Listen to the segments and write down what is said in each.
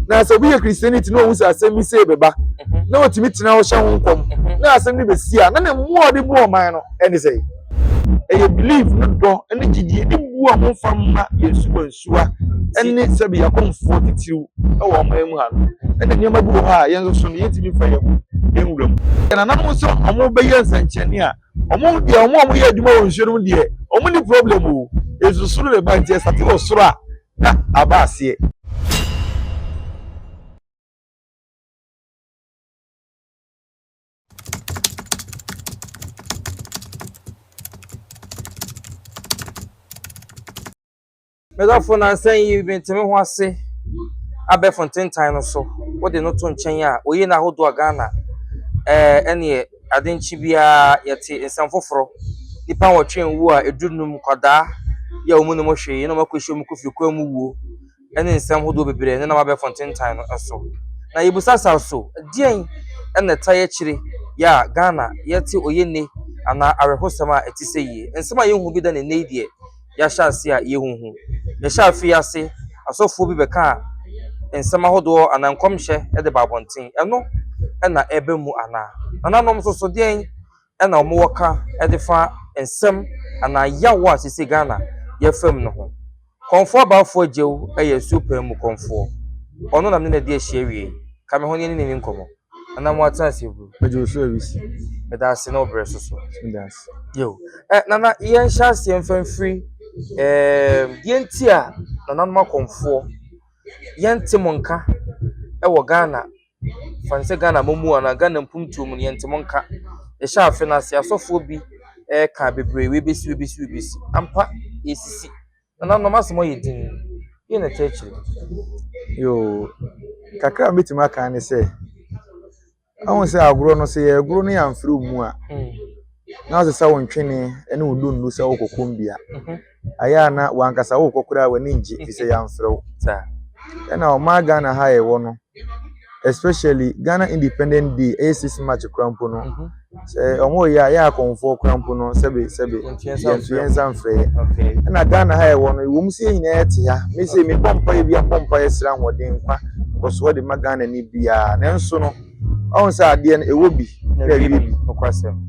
na sɛ obi yɛ kristiani ti na ohun sɛ asɛm bi sei bɛba na otumi tena hɔ hyɛ ho nkɔm na asɛm no bɛsi a na ne mmoa ɔde bu ɔman no ɛne sɛ ɛyɛ belief no dɔ ne gyidie ne bu a wɔmfa mma yɛn nsuwansuwa ne sɛbi yɛakɔmfoɔ titiriw wɔ ɔman mu ha no ɛna nneɛma bi wɔ hɔ a yɛn nso so no yɛntumi mfa yɛn ho nwura mu yɛn nananom nso wɔbɛyɛ nsɛnkyerɛnne a ɔmo deɛ ɔmo a ɔmo yɛ adwuma wɔ nsuo no mu deɛ ɔmo ni problem o esu soro na ɛba nti ɛsate wɔ soro a na aba aseɛ. Me dɔfo, nnansa yi mente me ho ase abɛɛfo ntentan no so. Wode no to nkyɛn a, oye no ahodoɔ a Ghana ɛɛ ɛneɛ ade nkye biara yɛte nsɛm foforo. Nnipa nwɔtwe nwu a ɛduru num, nkwadaa yi a wɔn nim hwee na wɔn akɔhyia mu kofiri kwan mu wuo ɛne nsɛm hodoɔ bebree nenam abɛɛfo ntentan no so. Na yɛbisa saa so, deɛn na ɛtae akyire yi a Ghana yɛte oye nne anaa awerɛhosɛm a ɛte sɛ yie? Nsɛm a yɛnhu bi da no nnɛ yi deɛ, yɛahyɛ ase a yɛnhu. Mehyɛ afe yi ase, asɔfoɔ bi bɛkaa nsɛm ahodoɔ anaa nkɔmhyɛ de baa abɔnten. Ɛno na ɛreba mu anaa? Nananom nso so deɛn na wɔwɔ ka de fa nsɛm anaa yaw a sese Ghana yɛfa mu no ho? Kɔmfoɔ Abaafoɔ Agyeu yɛ nsuo paa mu kɔmfoɔ. Ɔno na me ne no adi ahyia awie yi. Ka me ho na yɛne no nni nkɔmmɔ. Nana mo atena ase bro. Ɛdi osu awisi. Meda ase na ɔbrɛ so so. Meda ase. Yo. Eh, nana yɛn hyɛ ase yɛn fɛn firi. Eh, yɛn ti a nana mo akɔmfoɔ. Yɛn te mo nka. Ɛwɔ Ghana. Fan sɛ Ghana mo mu ana Ghana mpum tuo mu yɛn te mo nka. Yɛhyɛ afe na ase asɔfoɔ bi. Eh, ka bebree webesi webesi webesi. Ampa yɛsisi. Nananom, asɛm hɔ yɛ dinn. Deɛn na ɛte akyire? Yoo, kakra a mɛtumi aka ne sɛ, ahu sɛ agorɔ no, sɛ yɛregoro no yɛamfiri wo mu a, na ɔsɛ sɛ wo ntwene ne wo dundu sɛ wokɔ kombia. Ayɛ a na wankasa wokɔ koraa w'ani ngye, ɛfiri sɛ yɛamfrɛ wo. Ɛna ɔmaa Ghana ha a yɛwɔ no, especially Ghana independent day ɛyɛ six march koraa mpo no mhm. sɛ ɔmo yɛ a yɛ akɔnfoɔ koraa mpo no sɛbi sɛbi yɛntu yɛn nsa nfrɛ yɛ ɛna Ghana ha ɛwɔ no ewom sɛ yɛn nyinaa yɛte ha me sɛ me bɔ mpa yɛ bi abɔ mpa yɛ sra ahoɔden nkwa nkɔsoɔ de ma Ghana ni biara nanso no ɔmo sɛ adeɛ no ɛwɔ bi na ɛwie bi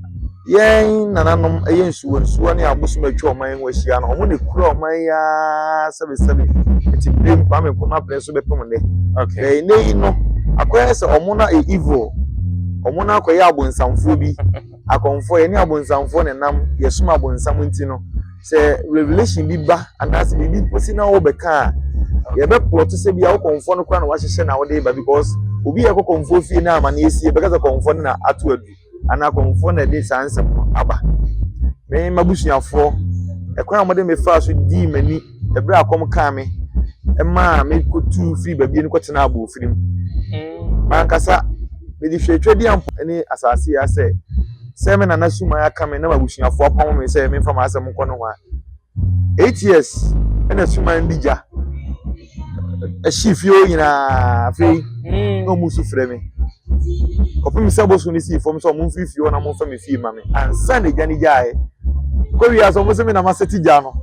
Yɛn nananom yɛ nsuwansuwa ne abosom a atwa ɔman yi ho ahyia no, wɔn na ekura ɔman yi ara sɛbesɛbe. Nti biem, Kwame Nkrumah pere so bɛpem nnɛ. Okay. Bɛyɛ nnɛ yi no, akɔyɛ sɛ wɔn na yɛ evil. Wɔn na akɔyɛ abonsamfoɔ bi. Akɔmfoɔ, yɛne abonsamfoɔ na ɛnam, yɛsom abonsam nti no, sɛ revelation bi ba anaasɛ biribi si na wɔbɛka a, yɛbɛplɔto sɛ bi a wo kɔmfoɔ no koraa na wahyehyɛ na wode ba because obi a ɛkɔ kɔmfoɔ fie na amanneɛ sie bɛka sɛ kɔmfoɔ no na ato adu. anaa akɔmfoɔ na ɛde saa nsɛm no aba. Me m'abusuafoɔ, ɛkwan a wɔde me faa so dii m'ani ɛberɛ a akɔm kaa me ɛmaa me kɔtuu firi baabi no kɔtenaa aboɔfiri mu. Mm. Mankasa mede hwɛ atwadi ampo ne asase ya sɛ sɛ me nana suman aka me na m'abusuafoɔ apamo me sɛ memfa m'asɛm nkɔ no ho a Eight years ɛna suman bi gya ɛhye fie hɔ nyinaa afei mm. na ɔmo nso frɛ mi kɔpem sɛ bosom no sii fam sɛ ɔmo mfiri fie hɔ na ɔmo mfa mi fie ma mi ansa na egya ne gyae kɔwie asɛ ɔmo sɛ mi na ma sɛti gya no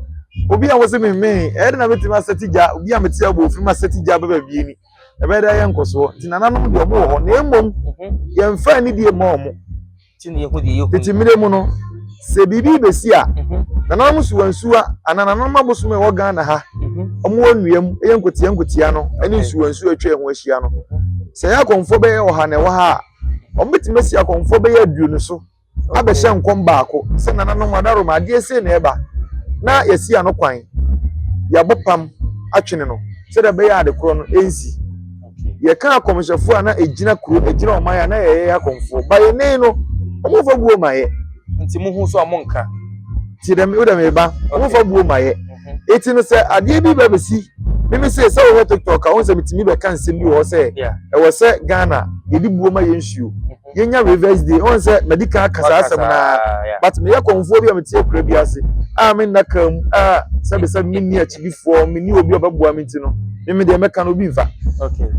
obi a wɔsɛ mi mmee ɛyɛ na metumi asɛti gya obi a mete abɔ ofiri ma sɛti gya bɛbɛ bie ni ɛbɛyɛ dɛ ayɛ nkɔsoɔ nti nananom deɛ ɔmo wɔ hɔ na mmom mhm. yɛn fɛn ne die ma ɔmo. tete mmere mu no sɛ biribi bɛsi a mhm. nananom suwa nsuwa anaa nananom abosom a ɛwɔ ghana ha mhm. wɔn wɔ nnua mu ɛyɛ nkotia nkotia no ɛne nsuwa nsuwa atwa ɛho ahyia no sɛ ɛyɛ akɔnfo bɛyɛ ɔha na ɛwɔ ha a wɔbɛtumi asi akɔnfo bɛyɛ aduonu so abɛhyɛ nkɔm baako sɛ nananom adaroma adeɛ sei na ɛba na yɛsi ano kwan yɛabɔ pam atwene no sɛdeɛ ɛbɛyɛ ade korɔ no ɛnsi yɛka akɔmhyɛfoɔ a na ɛgyina kuro ɛgyina ɔman a na yɛyɛ akɔmfoɔ ba yɛ nen no ɔmo fa buo ma yɛ nti mo ho so a mo nka ti dɛm wo dɛm ba ɔmo fa buo ma yɛ eti no sɛ adeɛ bi bɛ bɛsi mímí sɛ sɛ wɔhwɛ tiktok a wɔn sɛ mi ti mi bɛ ka nsɛm bi wɔ sɛ ɛwɔ sɛ ghana yɛde buo ma yɛ nsuo. yɛnya reverse day ɔn sɛ madi kan aka saa asɛm naa but meyɛ kɔnfoɔ bi a mete akura bi ase a me nna kan mu a sɛbisɛbi me ni akyidifoɔ me ni obi a ɔbɛboa me ti no me me deɛ mɛka no obi nfa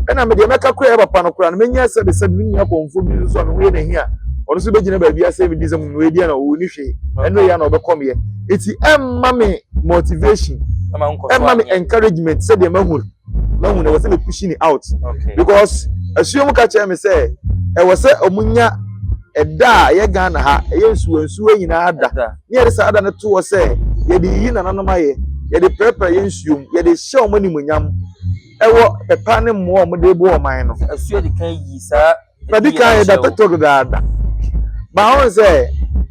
ɛna me deɛ mɛka kura yɛ papa no kura no menya sɛbisɛbi me nua kɔnfoɔ bi nso a me ho yɛ n'ahi a ɔno nso bɛgyina baabi asɛ me di sɛ mu edi a na ɔwɔ ni hwee ɛno yɛ a na ɔbɛkɔ meɛ eti ɛmma me motivation ɛmma me encouragement sɛdeɛ mahu no mahu no ɛwɔ sɛ me push ne out because asuo mu ka kyerɛ me sɛ ɛwɔ sɛ ɔmo nya ɛda a ɛyɛ ghana ha ɛyɛ nsuo nsuo nyinaa da ne yɛde saa da no to hɔ sɛ yɛde yiyi nananom ayɛ yɛde pɛrɛpɛrɛ yɛ nsuom yɛde hyɛ wɔn animonyam ɛwɔ pɛpa ne mmoa a wɔde bɔ ɔman no. asuo de kan yi saa. Nadi kan yɛ Dr. Tog daada. Ba ho sɛ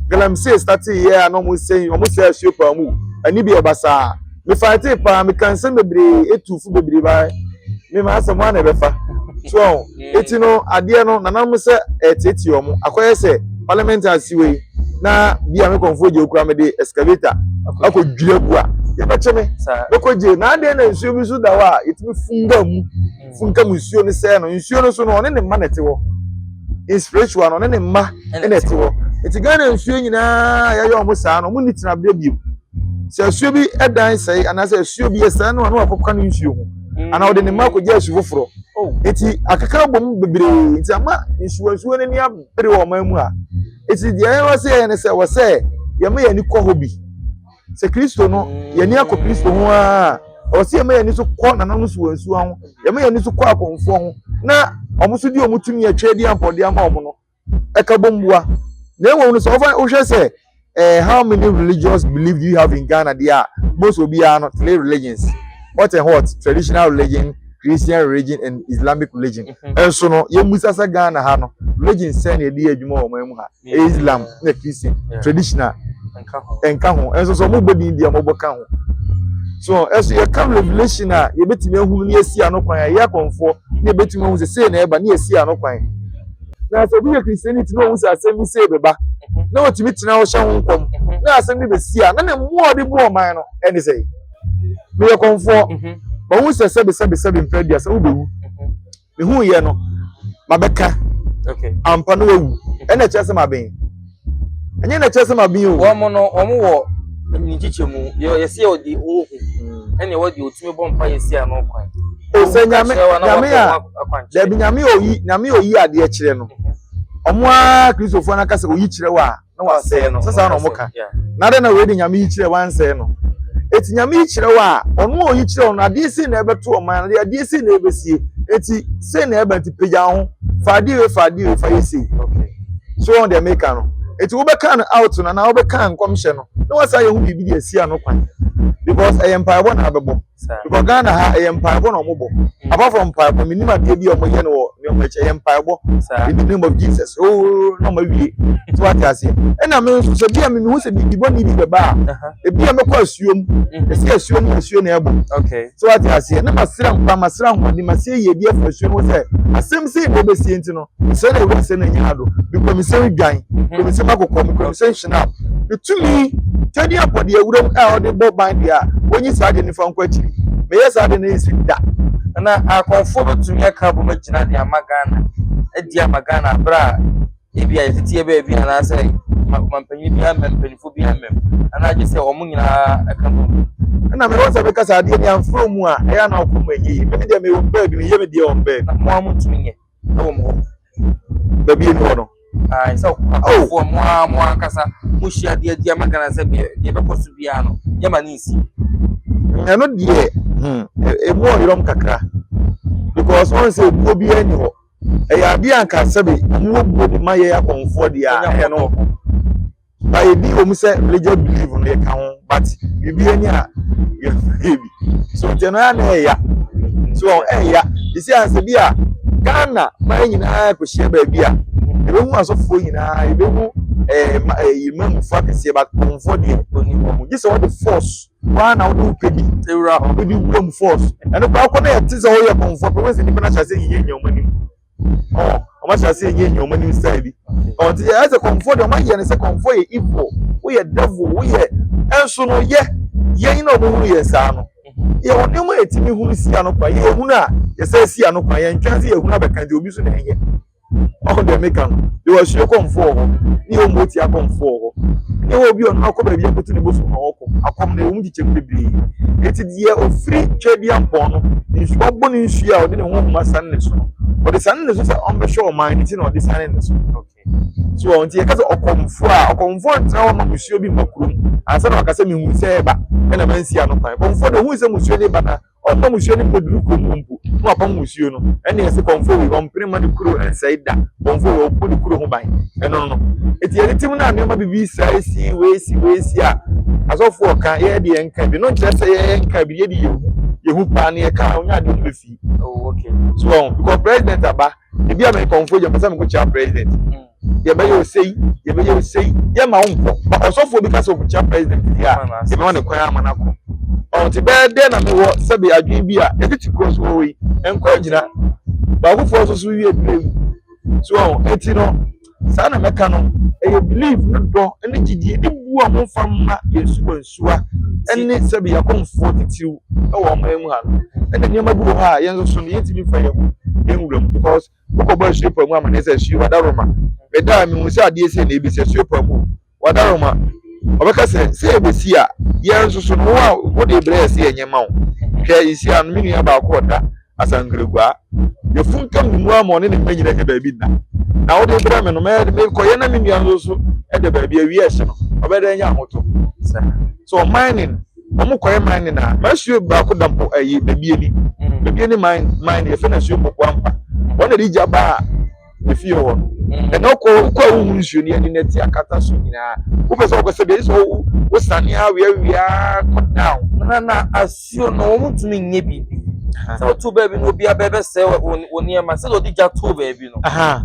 galamsey startee yɛ a na ɔmo sɛn ɔmo sɛ asuo paa mu. Ɛne bi a ɛba saa. Me fightee paa, me kaa nsɛm bebree, etuu fo bebree ba me maa sɛ mo ara na ɛbɛfa. So ɔho. Eti no adeɛ no nananom sɛ ɛɛteetee ɔmo. Akɔyɛ sɛ parliament ase wei na bi a me kɔnfoɔ gye okura me de excavator akɔ dwiri agu a yɛbɛkye me. Mɛkɔ gye. Na adeɛ na nsuo bi nso da hɔ a yɛtumi funga mu. funka mu nsuo no sɛɛ no nsuo no so no ɔne ne mma na ɛte hɔ in spiritual no ɔne ne mma na ɛte hɔ nti ghana nsuo nyinaa yɛyɛ wɔn saa no wɔn ni tena bia bio sɛ asuo bi dan sɛe anaasɛ asuo bi ɛsɛe no ano akɔka no nsuo ho mm. anaa ɔde ne mma akɔgya asu foforɔ oh. nti akeka bɔ mu bebree nti ama nsuo nsuo no ani abere wɔn mu a nti deɛ ɛyɛ wɔ sɛ yɛn no sɛ wɔ sɛ yɛma yɛn ani kɔ hɔ bi. sɛ kristo no yɛni akɔ kristo ho aa ɛwɔ sɛ yɛma yɛni so kɔ nananom so wɔ nsuwa ho yɛma yɛni so kɔ akɔmfoɔ ho na wɔn nso di wɔn tumi atwa adi ampɔde ama wɔn no ɛka bɔ mmoa na ɛwɔ no sɛ wɔfa wohwɛ sɛ eh, how many religious belief do you have in ghana deɛ a most obiara no three religions what and what traditional religion christian religion and islamic religion ɛnso no yɛmmusa sɛ ghana ha no religion sɛ na ɛdi adwuma wɔ wɔn mu ha Islam na Christian traditional ɛnka ho ɛnso so wɔn bɔ din deɛ wɔn bɔ ka ho so ɛso yɛka revelation a yɛbɛtumi ahunu ne yɛsi ano kwan a yɛ akɔnfoɔ ne yɛbɛtumi ahunu sɛ sei na ɛba ne yɛsi ano kwan na sɛ obi yɛ christianity na ohun sɛ asɛm bi sei bɛba na otumi tena hɔ hyɛ ho nkɔm na asɛm bi bɛsi a na ne mmoa a ɔde bu ɔman no ɛne sɛ meyɛ kɔnfoɔ wɔn sɛ sɛbisɛbisɛbi mpɛ deɛ sɛ wobɛwu. mehu yɛ no mabɛka okay ampa no wawu ɛna ɛkyerɛ sɛ maben ɛnyɛ na ɛkyerɛ sɛ maben o wɔn no wɔn wɔ nkyikyɛ mu deɛ yɛsi yɛ ɔde ohu hmm. ɛna ɛwɔ deɛ otumi bɔ mpa yɛ si ano kwan sɛ nyame nyame a dɛbi nyame oyi nyame oyi adeɛ kyerɛ no wɔn a kristofoɔ no akasa oyi kyerɛ wɔ a na wasɛe no sɛ saa na ɔmo ka na dɛ na wei de nyame yi kyerɛ wansɛe no eti nyame yi kyerɛ wɔ a ɔno a ɔyi kyerɛ ɔno adeɛ sei na ɛbɛto ɔman adeɛ adeɛ sei na ɛbɛsie eti sei na ɛbɛ nti pagya ho fa adeɛ wei fa adeɛ wei fa yɛ sei so wɔn deɛ meka no eti wobɛka no out no anaa wobɛka nkɔmhyɛ no na wasan yɛ ho biribi de asi ano kwan because ɛyɛ mpaebɔ na abɛbɔ. Because Ghana ha ɛyɛ mpaebɔ na wɔn bɔ. Apart from mpaebɔ, mi nim adeɛ bi a wɔn yɛ no wɔ nneɛma akyi ɛyɛ mpaebɔ. In the name of Jesus, ooo na wɔn awie. So wate aseɛ. Ɛna mi nso sɛ bia mi mi hu sɛ biribi bɔ ne bi bɛba a, mm-hmm. ebi a mɛkɔ asuo mu. Mm-hmm. Esi asuo mu asuo na ɛbɔ. So wate aseɛ. Na ma sira nkwa, ma sira nkwa, de ma se yie bi afɔ asuo mu sɛ asɛm sɛ ebi bɛ sie nti no. sɛ na ɛwɔ sɛ na nyina do bikɔmisɛn dwan kɔmisɛn akokɔm kɔmisɛn hyinap ɛtumi tɛde abɔde awuram a ɔde bɔ ban deɛ a wɔnyi saa de nifa nkɔ akyiri meyɛ saa de no ɛsi da na akɔmfoɔ bɛtumi aka bɔ bɛgyina de ama ghana adi ama ghana berɛ a ebi a yɛteteɛ baabi anaasɛ mampanyin bi amam mpanyinfo bi amam anaa gye sɛ wɔn nyinaa ɛka bɔ mu ɛna mewɔ sɛ mekasa adeɛ ne amforo mu a ɛyɛ na ɔkɔm ɛnyɛ yi mene deɛ mewɔ baabi meyɛ me deɛ wɔn baabi na mo a motumi nyɛ ɛwɔ mo hɔ baabi enu hɔ no. ayi sɛ ɔkɔfo oh. mo a mo ankasa mo hyia deɛ deɛ ma gana sɛ deɛ deɛ bɛkɔ so biara no yɛ ma ne nsi. ɛno deɛ hmm, emu ɔyɔm kakra because wɔn sɛ ebuo bi ɛni hɔ ɛyɛ adeɛ anka sɛbi mu obuo de ma yɛ akɔnfoɔ deɛ ɛno. But ebi wɔ mu sɛ religious belief no yɛ ka ho but biribi ani a yɛ yɛ bi so nti no ara na ɛya so ɛya esi ansa bi a Ghana man nyinaa kò hyia baabi a ebi hu asɔfoɔ nyinaa ebi hu ɛɛ eh, ma ɛɛ eh, mmamufoɔ akɛseɛ ba kɔnfoɔ deɛ oni wɔn mo gye sɛ ɔde force waa na ɔde wopɛ bi ewura ɔde wura mu force ɛno kora kɔ na yɛ ti sɛ ɔyɛ kɔnfoɔ pɛ wɔn sɛ nipa na hyɛ ase yiyɛ nyɛ wɔn anim. ɔn ɔmo ahyɛ ase yɛ nea ɔmo anim style bi ɔn ti yɛ ɛsɛ kɔnfɔ deɛ ɔmo ayɛ ne sɛ kɔnfɔ yɛ evil woyɛ devil woyɛ ɛnso no yɛ yɛn na ɔmo hu yɛn saa no yɛ wɔn nneɛma yɛ ti mi hu si ano kwan yɛ ehunu a yɛ sɛ si ano kwan yɛ ntwɛn sɛ yɛ ehunu abɛka deɛ obi so na ɛyɛ ɔmo deɛ mi ka no yɛ wɔ ahyia kɔnfɔ wɔ hɔ ne yɛ ɔmo ti akɔnfɔ wɔ hɔ ne yɛ wɔ obi ɔno akɔ baabi akoto ne bo so na ɔkɔ akɔm na ewom di. kyɛm bebree. Enti deɛ ɔfiri Tweaduampɔn no, nsuba bɔ ne nsuo a ɔde ne honhom asane ne so no, ɔde sane ne so sɛ ɔmbɛhwɛ ɔman no nti na ɔde sane ne so. So wɔn nti yɛka sɛ ɔkɔmfoɔ a ɔkɔmfoɔ ntena hɔ ma musuo bi mma kurom ansa na waka sɛ mehu sɛ ɛba ɛna mansi ano kwan. Kɔmfoɔ de ohun sɛ musuo de ba na Ɔmma musuo no nkɔduru kurom hɔ mpo, na wapam musuo no. Ɛnneɛ ɛse, Kɔmfoɔ wei, ɔmpene mma ne kuro nsɛe da. Kɔmfoɔ wei, ɔbɔ ne kuro ho ban. Ɛno no. Enti yɛde tim no a nneɛma bibi saa si, wei si, wei si a, asɔfoɔ ka, yɛn deɛ yɛnka bi. No nkyerɛ sɛ yɛn yɛnka bi, yɛde yɛhu, yɛhu paa na yɛka a, ɔnyɛ adeɛ ɔmbɛfii. Oh, okay. So wɔn, because president aba, ebi a mɛyɛ kɔmfoɔ gya, mpɛ sɛ mekɔkyia president. Mm. yɛbɛyɛ osei yɛbɛyɛ osei yɛma wo nkɔ ma ɔsɔfoɔ bi ka sɛ ɔbɛkyia president deɛ a yɛbɛma ne kwan ama no akɔ ɔte bɛyɛ dɛn na mewɔ sɛbe adwene bi a ɛde te kuro so wɔ yi nkɔ agyina baakofoɔ nso so wie berɛ yi so ɛti no saa na mɛka no ɛyɛ belief ne dɔ ne gyidie ne bu a momfa mma yɛn suwa nsuwa ne sɛbe yɛakɔmfoɔ titiriw wɔ ɔman mu ha no ɛna nneɛma bi wɔ hɔ a yɛn nso so no yɛntumi mfa yɛn ho yɛn wuram because Mokɔbɔ asuo pa mu amanneɛ sɛ, Asuo, wadaroma! Meda a mehu sɛ adeɛ sei na ɛbɛsi, asuo pa mu, wadaroma! Ɔbɛka sɛ, Sɛ ɛbɛsi a, yɛn nso so no, wo a wode brɛ yɛ sɛ yɛnyɛ mma wo. Hwɛ, ɛsi ano, me nua baako a ɔda Asankragua, yɛafunkam ne mu ama ɔne ne mma nyina anya baabi nna. Na wode brɛ me no, mekɔyɛ na me nua nso so da baabi, awia ɛhye no, ɔbɛda anya ahotɔ. So ɔman ne. Wɔn kɔɛ man ne na. Masuo baako da bo ɛyi bebie ni. Bebie ni man man ni efe na suo boko ampa. Wɔn na di gya baa efie hɔ no. Ɛna ɔkɔ ɔkɔ a wohun suo ni ɛni na ti akata so nyinaa. Wopɛ sɛ ɔkɔ sɛ bia sɛ wo wo sane awia wia kɔ down. Na na asuo no wɔn tumi nye bibi. Sɛ ɔtu baabi no obi abɛ bɛ sɛ wɔ wɔ nneɛma sɛ ɔdi gya to baabi no.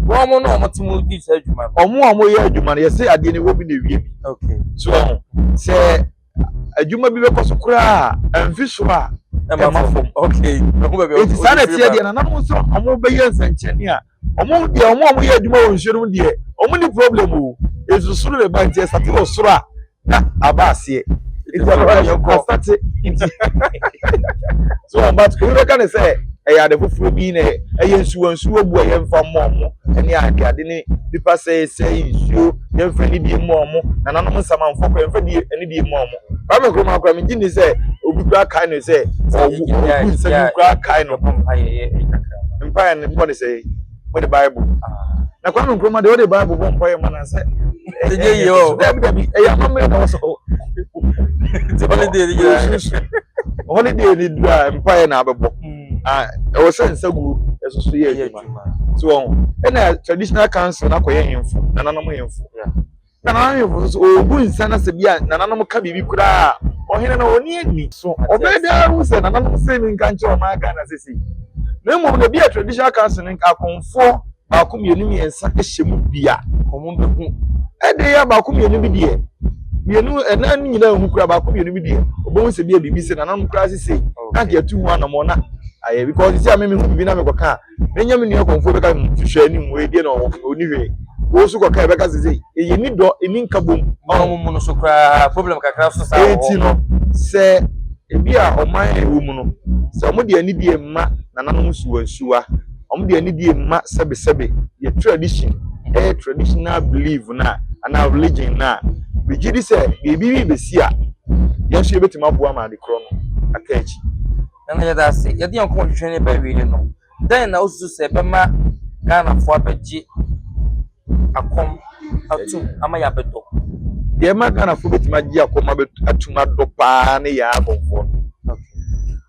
Wɔn mo na wɔn te mo di saa adwuma no. Wɔn a wɔyɛ adwuma no yɛsɛ adeɛ ni wɔ bi na ewie bi. Okay. So sɛ. adwuma bi bɛkɔ so koraa a mfi so a ɛma fam okay ɛho baabi eti saa na ɛteɛ deɛ nana mo nso wɔn bɛyɛ nsɛnkyerɛnne a wɔn deɛ wɔn a wɔyɛ adwuma wɔ nsuo no mu deɛ wɔn ni problem o esu soro na ɛba nti ɛsate wɔ soro a na aba aseɛ eti ɛbɛba yɛ kɔ asate nti so wɔn ba obi bɛka ne sɛ ɛyɛ ade foforɔ bi na ɛyɛ nsuo nsuo bu ɛyɛ nfa mmɔ ɔmo ɛne ade ade ne nipa sɛɛ sɛɛ nsuo. yɛmfa ne die mma ɔmo nananom nsɛm amfo kɔ yɛmfa die ne die mma ɔmo kwame nkrumah kora megye ni sɛ obi kora kae no sɛ ɔwu ɔwu nsɛm bi kora kae no mpaeɛ no bɔ ne sɛ wɔde bible na kwame nkrumah deɛ wɔde bible bɔ mpaeɛ ma na sɛ ɛyɛ yie o dabi dabi ɛyɛ amammerɛ na wɔsɔ ti holiday ni yɛ susu holiday ni dura mpaeɛ na abɛbɔ ɛwɔ sɛ nsa gu ɛsoso yɛ adwuma so wɔn ɛna traditional council na kɔyɛ hemfo nananom hemfo na nananom hemfo nso ɔbu nsa na sɛ bi a nananom ka biribi koraa ɔhene na ɔni ani so ɔbɛn bi ara ho sɛ nananom sɛ mi nka nkyɛn ɔmo aga na sisi na mmom na ebi a traditional council no akɔnfoɔ baako mmienu mmiɛnsa hyɛ mu bi a ɔmo bɛ ho ɛde yɛ baako mmienu bi deɛ mmienu ɛnan no nyinaa ho kura baako mmienu bi deɛ ɔbɛn ho sɛ bi a biribi sɛ nananom koraa sisi. na nka yɛtu ho anamɔ na ayɛ because sisi a me mehu biribi na mekɔka a menya me nua kɔmfoɔ bɛka mu hwehwɛ anim wei deɛ na ɔni hwee wei so kɔka ɛbɛka sɛ sɛ ɛyɛ ni dɔ ɛni nka bom ɔmomono so koraa problem kakra so saa ɛti no sɛ ebi a ɔman a ɛwɔ mu no sɛ ɔmo deɛ ani deɛ mma nananom nsuwa nsuwa ɔmo deɛ ani deɛ mma sɛbesɛbe yɛ tradition ɛyɛ traditional belief na anaa religion na bɛgye di sɛ biribi bi bɛsi a yɛn nso yɛbɛtumi aboa ma ade korɔ no aka akyi. Nana yɛda ase. Yɛde yɛn kɔn hwehwɛ ne bɛ wie no, dɛn na wosusu sɛ ɛbɛma Ghanafoɔ abɛgye akɔm atum ama yɛabɛdɔ? Deɛ ɛma Ghanafoɔ bɛtumi agye akɔm atum adɔ paa ne yɛn abɔfoɔ no.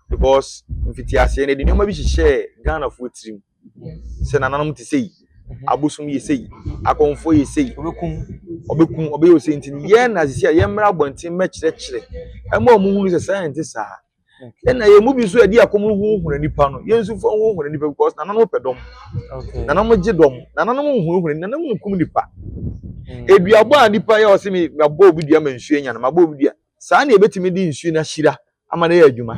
Because mfitiaseɛ no, yɛde nneɛma bi hyehyɛɛ Ghanafoɔ tirim. sɛ nananom te sei mhm. abosom yɛ sei akɔmfoɔ yɛ sei ɔbɛkum ɔbɛkum ɔbɛyɛ ɔsei nti yɛn na sisi a yɛmmra abɔnten mɛkyerɛkyerɛ ɛma ɔmo hunu sɛ saa yɛn te saa ɛna yɛn mu bi nso yɛde akɔm huhuna nipa no yɛn nso fo huhuna nipa because nananom pɛ dɔm nananom gye dɔm nananom huhuna nananom nkum nipa mm. eduabɔ a nipa yɛ ɔsɛ mi ma bɔ obi dua ma nsuo nya no ma bɔ obi dua saa na yɛbɛtumi de nsuo no ahyira ama no ayɛ adwuma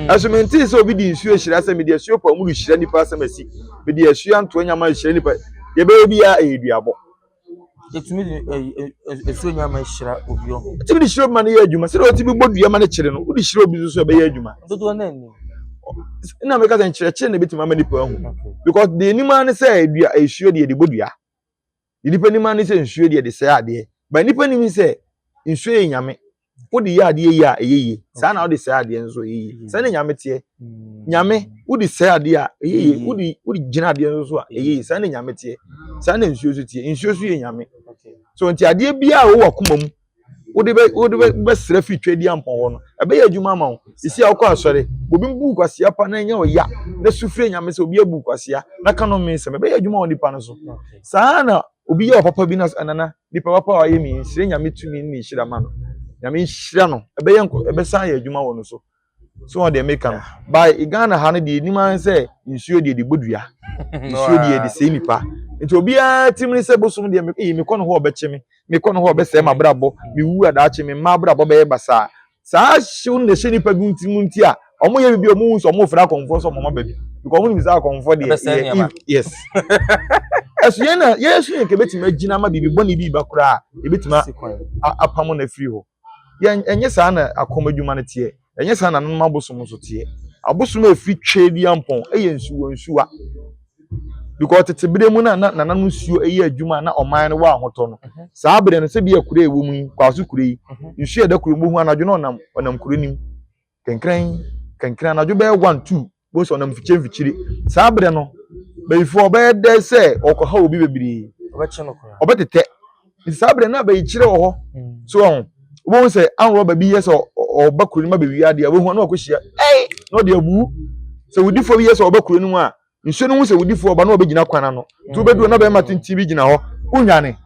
ɛso mm. mentee sɛ obi de nsuo ahyira sɛ mede asuo pa mu no hyira nipa asɛm asi mede asuo antoa nyama ahyira nipa yɛbɛyɛ biara ɛyɛ duabɔ ɛtumi de ɛsuo nyama hyira obi ɔho ɛtumi de hyira obi ma no yɛ adwuma sɛdeɛ ɔtumi bɔ dua ma no kyere no wode hyira obi so so ɛbɛyɛ adwuma dodoɔ no ani na meka sɛ nkyerɛkyerɛ na ɛbɛtumi ama nipa ahu because deɛ anim ara ne sɛ dua ɛsuo deɛ de bɔ dua Deɛ nnipa nim ara ne sɛ nsuo deɛ ɛde sɛe adeɛ. But nnipa nim sɛ nsuo yɛ nyame. Wode yɛ adeɛ yie a ɛyɛ yie. Saa na wode sɛe adeɛ nso ɛyɛ yie. Saa na nyame teɛ. Nyame wode sɛe adeɛ a ɛyɛ yie. Wode wode gyina adeɛ nso so a ɛyɛ yie. Saa na nyame teɛ. Saa na nsuo nso teɛ. Nsuo nso yɛ nyame. So nti adeɛ biara a ɛwɔ w'akoma mu wode bɛ wode bɛ bɛsrɛ firi Twɛdi Ampɔn hɔ no ɛbɛyɛ adwuma ama wo ɛsi a wokɔ asɔre obi bu kwasea pa na ɛnyɛ ɔya na su firi nyame sɛ obi abu kwasea na ka no mmesɛm ɛbɛyɛ adwuma wɔ nipa no so saa na obi yɛ ɔpapa bi na nana nipa papa a ɔyɛ mi nhyira nyame tumi ne nhyira ma no nyame nhyira no ɛbɛyɛ nkɔ ɛbɛsan yɛ adwuma wɔ no so so wɔn deɛ meka no by Ghana ha no deɛ nim ara sɛ nsuo deɛ de bɔ dua nsuo deɛ de sɛe nipa nti obiara tirim ne sɛ bosom deɛ me eyi mekɔ no hɔ ɔbɛkye me mekɔ no hɔ ɔbɛsɛe ma brabɔ mewu adaakye me mma brabɔ bɛyɛ basaa saa hyew na ɛhyɛ nipa bi nti mu nti a wɔn yɛ bibi wɔn nso wɔn fira akɔnfɔ so wɔn ma baabi because wɔn nim sɛ akɔnfɔ deɛ yɛ yes ɛso yɛn na yɛn so yɛn kɛbɛtumi agyina ama bibi bɔ ne bi ba koraa ebɛtumi apam na afiri hɔ. Yɛn, ɛnyɛ saa na akɔm adwuma no teɛ. Ɛnyɛ saa na anom abosom nso teɛ. Abosom a ɛfiri Tweaduampɔn yɛ nsuwa nsuwa. Because tete berɛ mu na na nananom nsuo yɛ adwuma a na ɔman no wɔ ahotɔ no. Mhm. Saa berɛ no, sɛdeɛ kuro a ɛwɔ mu yi, Kwaso kuro yi, mhm. nsuo a ɛda kuro mu, bohu anadwo na ɔnam, ɔnam kuro no mu. Kenkren, kenkren, anadwo bɛyɛ one two bose ɔnam mfikyire mfikyire saa berɛ no bayifoɔ ɔbɛyɛ dɛ sɛ ɔkɔha obi bebree ɔbɛtetɛ nti saa berɛ no abayikyerɛ wɔ hɔ mm. so ɔho wobɛhu sɛ anworɔba bi yɛ sɛ ɔba kuro no ma bɛwie adeɛ a wobɛhu ano akɔhyia ɛi na ɔde abu sɛ wodifoɔ bi yɛ sɛ ɔba kuro no mu a nsuo no ho sɛ wodifoɔ ɔba na wɔbɛgyina kwan ano nti wobɛduru na bɛrima tenten bi gyina hɔ wonwane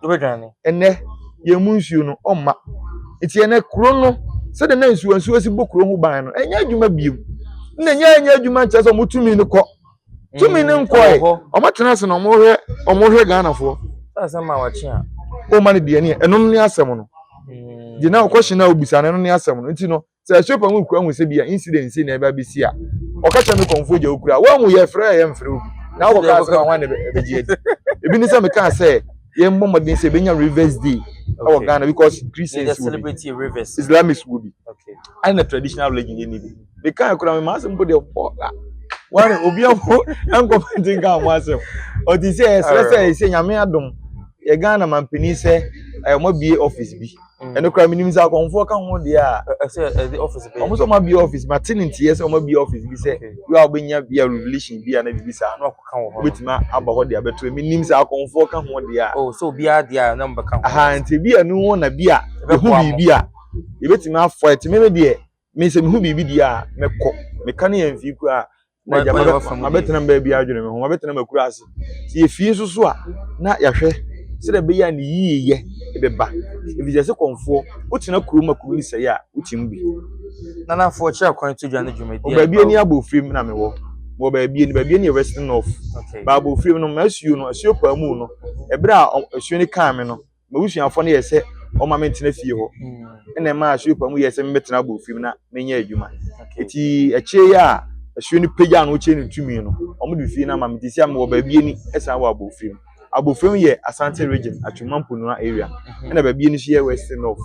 ɛnɛ yɛn mu nsuo no ɔmma nti ɛnɛ kuro no sɛdeɛ na nsuo nsuo si bɔ kuro ho ban no ɛnyɛ adwuma biem na ɛnyɛ ɛnyɛ adwuma nkyerɛ sɛ wɔn tumi no kɔ tumi no nkɔɛ wɔn tena ase na wɔn hwɛ wɔn hwɛ ghanafoɔ wɔn ma no deɛ ne ɛno ne asɛm no deɛ na ɔkɔhyɛ na obisa no ɛno ne asɛm no nti no Sɛ shopper mu kura hu sɛ bi a incident sei na ɛba bɛsi a, ɔka kyerɛ me kɔmfoɔ gya wokura. Woahu yɛfrɛ a yɛmfrɛ obi. Na wokɔ kaa sɛ hwan na ɛbɛgye adi. Ebi ne sɛ mekaa sɛ yɛmmɔ mmɔden sɛ yɛbɛnya Rivers Day wɔ Ghana because Christians wɔ bi, Islamists wɔ bi, ɛna traditional religion yɛnni bi. Mekaa kura me ma asɛm mpo deɛ bɔ a wɔne obi aho nkɔfa nti nka ho asɛm. Ɔte sɛ ɛsrɛ sɛ ɛsɛ Nyame adom yɛ Ghana mampanin sɛ ɛmɔ bie office bi. Mm. ɛno kora menim sɛ akɔmfoɔ ka ho deɛ a ɔmo sɛ ɔmabie office mate ne nteɛ sɛ ɔmabie office bi sɛ wei a wobɛnya bi a revelation bi a na biribi saa no wobɛtumi aba hɔ de abɛto menim sɛ akɔmfoɔ ka ho deɛ a oh, aha nti bi a no hɔ na bi a ɛho biribi a yɛbɛtumi afoa ɛtumi me deɛ me sɛ meho biribi deɛ a mɛkɔ meka ne yɛmfii koraa na agya mabɛtena mbaa bi adwene me ho mabɛtena makura ase sɛ yɛfie nso so a na yɛahwɛ sɛdeɛ ɛbɛyɛ a ne yiyeyɛ bɛba ɛfisɛ sɛ kɔmfoɔ wotena kurom a kuro ne sɛe a wotim bi nanafoɔ kyerɛ kwan to dwa no dwumadi baabi ani abɔ firim na mewɔ wɔ baabi ani baabi ani yɛ western north baabɔ firim no masuo no asuo paa mu no ɛberɛ a asuo no kaa me no m'abusuafoɔ no yɛɛ sɛ wɔma me ntena fie hɔ ɛna mm. ɛmaa asuo pa mu yɛɛ sɛ mebɛtena abɔ fie mu na menyɛ adwuma ɛti akyire yɛ a asuo no pagya no wokyɛ no tumi no wɔn de fie no ama me ti sɛ mewɔ baabi ani ɛsan wɔ abɔ fie mu abɔ fie mu yɛ asante region atwuma mponua area mhm. ɛna baabi ani nso yɛ west north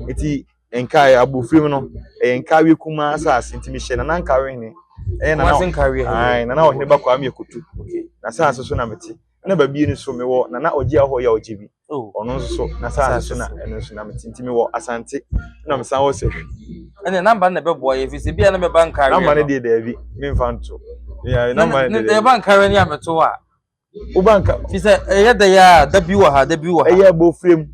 ɛti mhm. nkae abɔ fie mu no ɛyɛ nkawe kumaa asase nti mehyɛ nana nkawe hene ɛyɛ nana ɔhene bakɔ amyɛ kutu na asase so na mete na babie no so mewɔ nana ɔgye ahɔ yɛ ɔgye bi ɔno nso so na saa nso na ɛno nso na mete nti mewɔ asante na mesan wɔ sahwi ɛne namba no na ɛbɛboa yɛ fisi bia na mɛba nkareɛ namba no deɛ daabi memfa nto namba no deɛ ɛba nkareɛ ne ameto a woba nka fi sɛ ɛyɛ da yɛ a da bi wɔ ha da bi wɔ ha ɛyɛ bɔfrɛ mu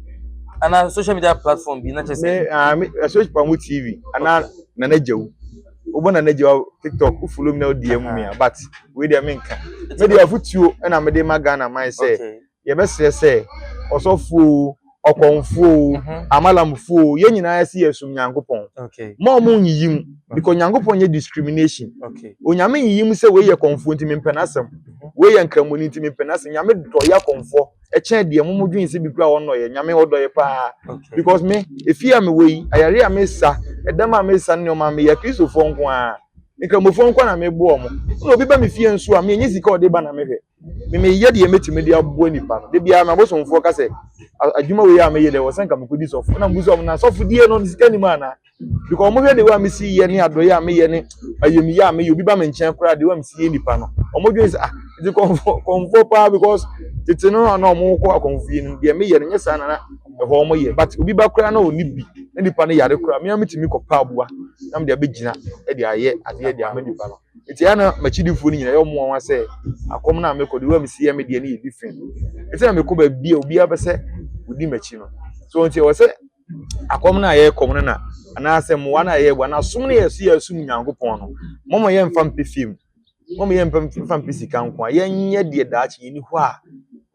anaa social media platform bi na kyɛ sɛ me ɛso pa mu tv anaa nana gyawu wobɔ na n'agya wɔ tiktok wo follow me na wodi ɛmu mia but wei deɛ menka me deɛ afotuo ɛna mede ma ghana man sɛ yɛbɛsrɛ sɛ ɔsɔfoɔ ɔkɔmfoɔ mhm. amalamfoɔ yɛn nyinaa si yɛsom nyankopɔn ma ɔmo nyiyi mu because nyankopɔn yɛ discrimination onyame nyiyi mu sɛ wei yɛ kɔmfoɔ nti mempɛ n'asɛm mhm. wei yɛ nkramoni nti mempɛ n'asɛm nyame dɔ yɛ akɔmfoɔ ɛkyɛn deɛ mo mo dwen sɛ bi kura wɔn nɔyɛ nyame ɔdɔ yɛ paa because me efi a me wɔ yi ayare a me sa ɛdɛm a me sa ne nneɛma me yɛ kristofoɔ nko ara nkramofoɔ nko na me bo wɔn ɛna obi ba me fie nso a me enye sika ɔde ba na me hwɛ me me yɛ deɛ metumi de aboa nipa no de biara ma bosomfoɔ ka sɛ adwuma wei a me yɛ deɛ wɔsɛn ka me kɔ di sɔfo ɛna mo sɛ ɔmo na sɔfo die no sika nim ana because wɔn hwɛ de wa mi si yɛ ne adɔyɛ a mi yɛ ne ayamiyɛ a mi yɛ obi ba mi nkyɛn koraa de wa mi si yɛ nipa no wɔn dwen sɛ ah ɛdi kɔnfɔ kɔnfɔ paa because tete no na wɔn kɔ akɔnfɔ yɛ no deɛ mi yɛ no nyɛ saa na na ɛhɔ wɔn yɛ but obi ba koraa na ɔni bi na nipa no yare koraa mi a mi ti mi kɔ pa aboa na mi de abɛ gyina ɛde ayɛ adeɛ de ama nipa no eti yɛ na m'akyidifoɔ no nyinaa yɛ wɔn wɔn asɛ akɔm na mi kɔ de wa mi si yɛ mi deɛ no yɛ different eti na mi kɔ baabi a obi abɛsɛ odi m'akyi no so nti ɛwɔ sɛ. akɔm no a yɛkɔm no na anaasɛ mmoa no a yɛboa na asom no yɛ so yɛ asom nyankopɔn no mɔmɔ yɛ mfa mpe fie mu mɔmɔ yɛ mfa mpe sika nko a yɛnyɛ deɛ daakye yɛni hɔ a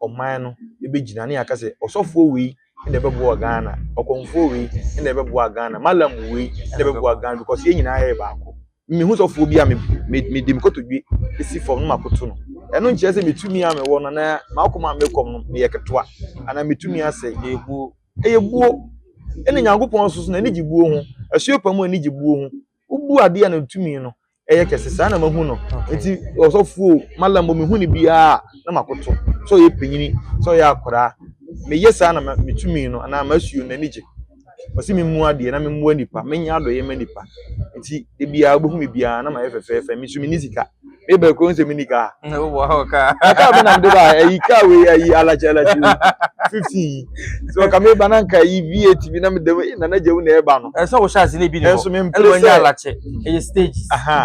ɔman no ɛbɛgyina ne yɛaka sɛ ɔsɔfoɔ wei ɛna ɛbɛboa ghana ɔkɔmfoɔ wei ɛna ɛbɛboa ghana malam wei ɛna ɛbɛboa ghana because yɛn nyinaa yɛ baako mehu sɔfoɔ bi a mede mekɔtɔdwe ɛsi fam no makoto no ɛno nkyerɛ sɛ metumi a mewɔ no na maakoma a mekɔm no meyɛ ketewa anaa metumi asɛ yɛbuo Ɛyɛ buo. Ɛna Nyankopɔn nso so n'ani gye buo ho. Asuo pa mu ani gye buo ho. Wobu adeɛ a ne tumi no ɛyɛ kɛse. Saa na mahu no. Nti ɔsɔfo o, mala mbɔ mehu no biara a na makoto. Sɛ ɔyɛ panyini, sɛ ɔyɛ akwadaa. Meyɛ saa na me tumi no anaa m'asuo no n'ani gye. Ɔse memmua adeɛ na memmua nipa, menyɛ adɔeɛ mma nipa. Nti da biara wobɛhu me biara na mayɛ fɛfɛɛfɛ. Me nso menni sika. me ba kuro nsɛm ni kaa ɛka bɛ nam de ba ayi kaa wei ayi alakyɛ alakyɛ wei fifty yi so ɔka me ba na nka yi vi eight bi na me dɛm na na gyawu na ɛba no. ɛsɛ wɔhyɛ ase ne bi ne hɔ ɛnso me mpere sɛ alakyɛ ɛyɛ stage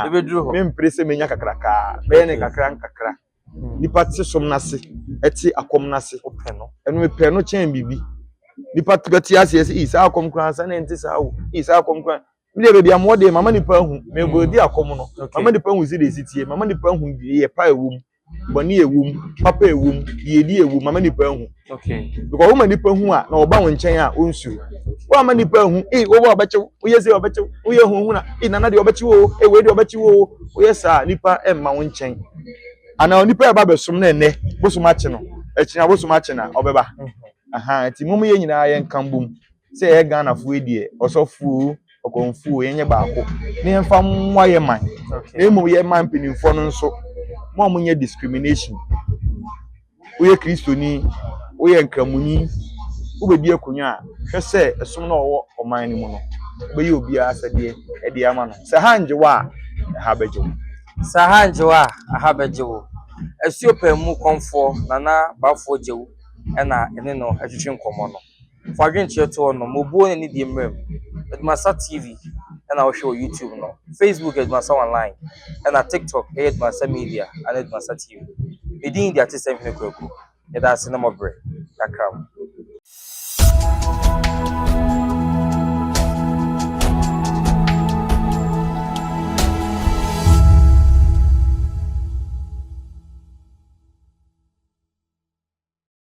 ebe duro hɔ me mpere sɛ menya kakra kaa bɛyɛ ne kakra nkakra hmm. nipa te som n'ase ɛte akɔm n'ase ɔpɛ no ɛno mepɛ no kyɛn biribi nipa bɛte ase ɛsɛ ii saa akɔm koraa sɛ ne nte saa o ii saa akɔm koraa Media baabi a mowɔ deɛ mama nipa ahu mebɔ adi akɔm no mama nipa ahu sɛdeɛ ɛsi tie mama nipa ahu yɛ pa ɛwɔ mu bɔne ɛwɔ mu papa ɛwɔ mu yiedi ɛwɔ mu mama nipa ahu because woma nipa hu a na ɔba wo nkyɛn a ɔnsuro woama nipa ahu ee wobɔ ɔbɛkye wo woyɛ sɛ ɔbɛkye wo woyɛ huhuna ee nana deɛ ɔbɛkye wo ee wei deɛ ɔbɛkye wo woyɛ saa nipa ɛmma wo nkyɛn anaa nipa ɛba bɛsom na ɛnɛ bosom akye no ɛkyina bosom akye na ɔbɛba aha nti mom yɛ nyinaa yɛn kan bom Sɛ yɛyɛ Ghanafoɔ yi deɛ, ɔsɔfoɔ o, ɔkɔmfoɔ o, yɛnyɛ baako na yɛmfa mmoa yɛ man. Na mmom yɛ man mpanimfoɔ no nso, mo a monyɛ discrimination. Woyɛ Kristoni, woyɛ Nkramoni, wobɛdi akonnwa a, hwɛ sɛ ɛsom no a ɔwɔ ɔman no mu no, wobɛyɛ obiara asɛdeɛ de ama no. Sɛ ha ngye wo a, ɛha bɛgye wo. Sɛ ha ngye wo a, ɛha bɛgye wo. Asuo Pɛn mu kɔmfoɔ Nana Bafoɔ Gyau na ɛne no retwetwe nkɔmmɔ no. Fa adwenkyerɛ to hɔ nom. Obuo ne nidie mmra mu. Adwumasa TV na wohwɛ wɔ YouTube no. Facebook yɛ Adwumasa Online ɛna TikTok yɛ Adwumasa Media anaa Adwumasa TV. Me din de Atesɛm Hene Kwaku. Yɛdaase ne mɔbrɛ. Yɛakra mo.